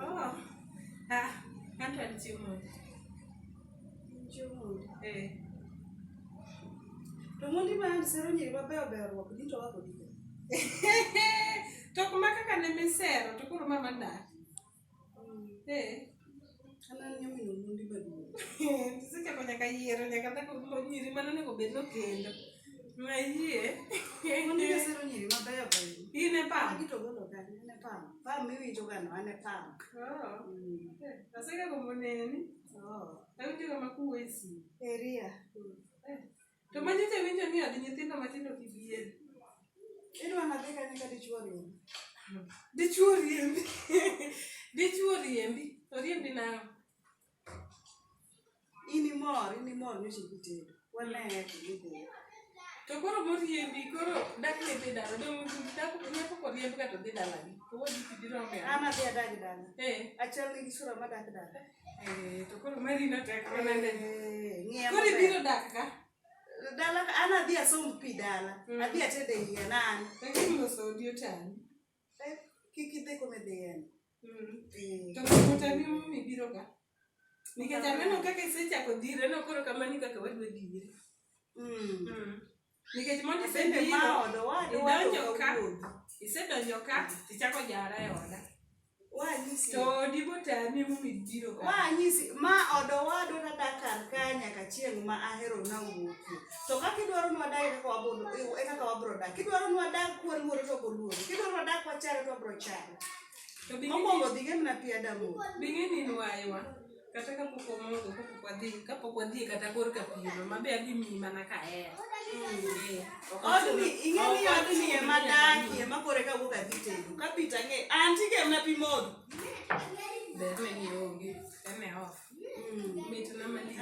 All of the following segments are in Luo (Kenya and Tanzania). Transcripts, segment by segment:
Oh. Ah, anto en chiemo. Chiemo. Eh. To mondi ma and sero nyiri mabeyo beyo ruok dito wako dito. To kuma kaka ne misero to koro mama dak. Mm. Eh. Sechako nyaka yiero nyaka dhako nyiri mane onego bed nokendo. Mayie. In e pam. Pam miwinjo ga no an e pam. Asegagombo neni. Awinjo ga makuwe si. Eria. To ma nyocha winjo ni od nyithindo matindo gi bier. Idwa nadhi kanye ka dichuo riembi? Dichuo riembi. Dichuo riembi. Oriembi nang'o? In imor, in imor nyocha kitedo. Waneye kidhi. To koro moriembi koro dak ne dhi dala. Dong dak nyako koriemb ka to dhi dalagi. To wadi kibiro ng'eyo. An adhi adag dala. Eh. Achal gi sura madak dala. Eh, to koro mari na tek mana ne. Eh, ng'iya Koro maber. ibiro dak ka. dala ka- an adhi asomb pi dala Mm. adhi ated e yien an Lakini loso odi otani. Eh, kik idhi kome dhi yien Mm. Eh, To koro otani mimi biro ka. Nikech aneno kaka isechako dhire, aneno koro kamano kaka wadwa dhire. mm. Mm. Nikech mondo isebe ma odo wadu idonjo ka isedonjo ka tichako jara e oda. Wanyisi. To dibo tami mu midiro ka. Wanyisi ma odo wadu na dakar ka nyaka chieng ma ahero na wuoki. To kaka idwaro nwa dai kaka wabodo e kaka wabro dak. Kidwaro nwa dak kwa luoro to boluoro. Kidwaro nwa dak kwa chare to bro chare. To bing'e ni. Omongo dhige mna pia damu. Bing'e ni nwa iwa. kata kapok wamodho kapok wadhi kapok wadhi kata kor ka pimo mabe adhi miyi mana ka en ingeniodnie madakie makore ka wuok adhi tedo kapita ng'e an tigemna pi modho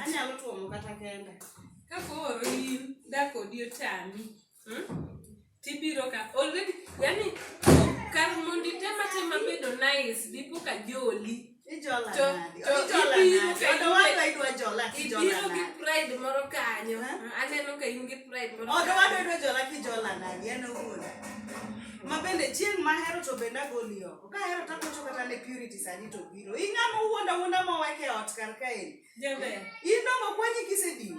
anyalo tuomo kata kenda kakoro in dakodi otami Hmm? Tibiro ka already yani kar mondo itema tema bedo nice dipo ka joli. Ijola to, nadi. To, ijola nadi. Odo wadwa idwa jola kijola nadi. Ibiro gi pride moro kanyo. Huh? Aneno ka in gi pride moro kanyo. Odo wadwa idwa jola kijola nadi. Ano wuoda. ma bende chieng' ma hero to bende agoli oko ka hero to akocho kata ne purity sani to biro ing'ama wuonda wuonda moweke ot kar kaeni in dong okwanyi kisediwo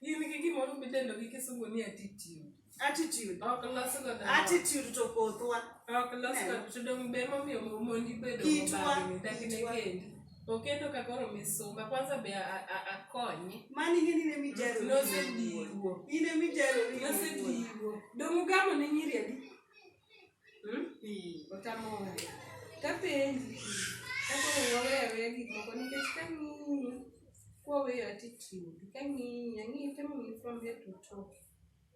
in gi gimoro midendo gi kisungu ni attitude attitude ok los godo attitude to kothwa ok los Eh. godo to dong' be momiyo mondi bedo Kitwa, mobagni dakine kitwa. kendi okendo ka koro misumba kwanza be a- a- akonye mani in ine mijaro nosediwo ine mijaro nosediwo dong' ugamo ne nyiri adi Hmm? Kapenji, kaka oweyo aweya gik moko nikech kang'iyi, kwaweyo attitude, kang'iyi, ang'iyi temo ni from head to toe.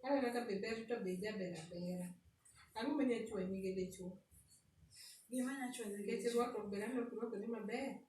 Aneno ka be ber to be ijaber abera. Ang'o ma nyachwanyi gi dichwo? Nikech irwako ber aneno kirwakori maber.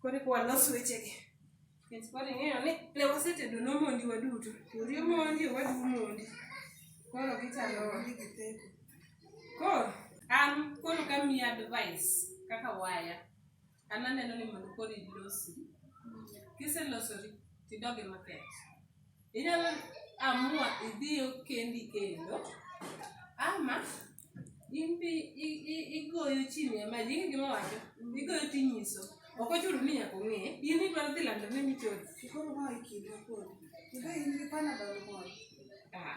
Koro eka walos wechegi. Nikech koro ing'eyo ni ne wasetedo nomondi waduto. Ori omondi, owadu omondi. Koro gichalo omondi gi theko. Koro an koro kamiyi advice kaka waya, an aneno ni mondo koro ilosi. Kiselosori tidog e market. Inyalo amua idhiyo kendi kendo ama imbi igoyo chini ama jingi gima wacho igoyo tinyiso ok ochuno ni nyaka ong'e in idwaro dhi lando ne michodi koro ma ikinde kodi ibe in gi panadol moro ah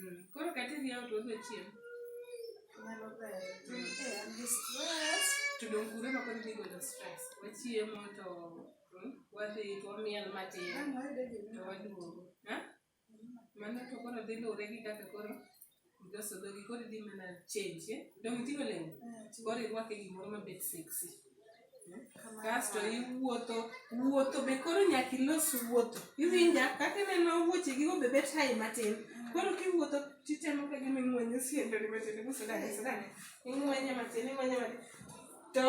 Mm, koro katidhi out wadwa chiem to dong kure ma koro gigolo stress wachiemo to mm, wadhi to wamiel matin to waduogo Ha? mano to koro dhi luwre gi kaka koro iloso dhogi koro idhi mana change eh? dong iting'o lewni koro irwake gimoro mabet sexy kasto iwuotho wuotho be koro nyaka ilos wuotho iwinja kaka ineno wuoche gigo be bet hai matin koro kiwuotho titemo ka gima ing'wenyo siendoni matin ibusidane sidane ing'wenye matin ing'wenye matin to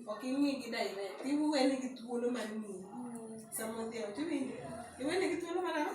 ok ing'i gi daine tiwene gi thuolo mar ng'iyi sama odhiambo tiwinjo iwene gi thuolo mar ang'o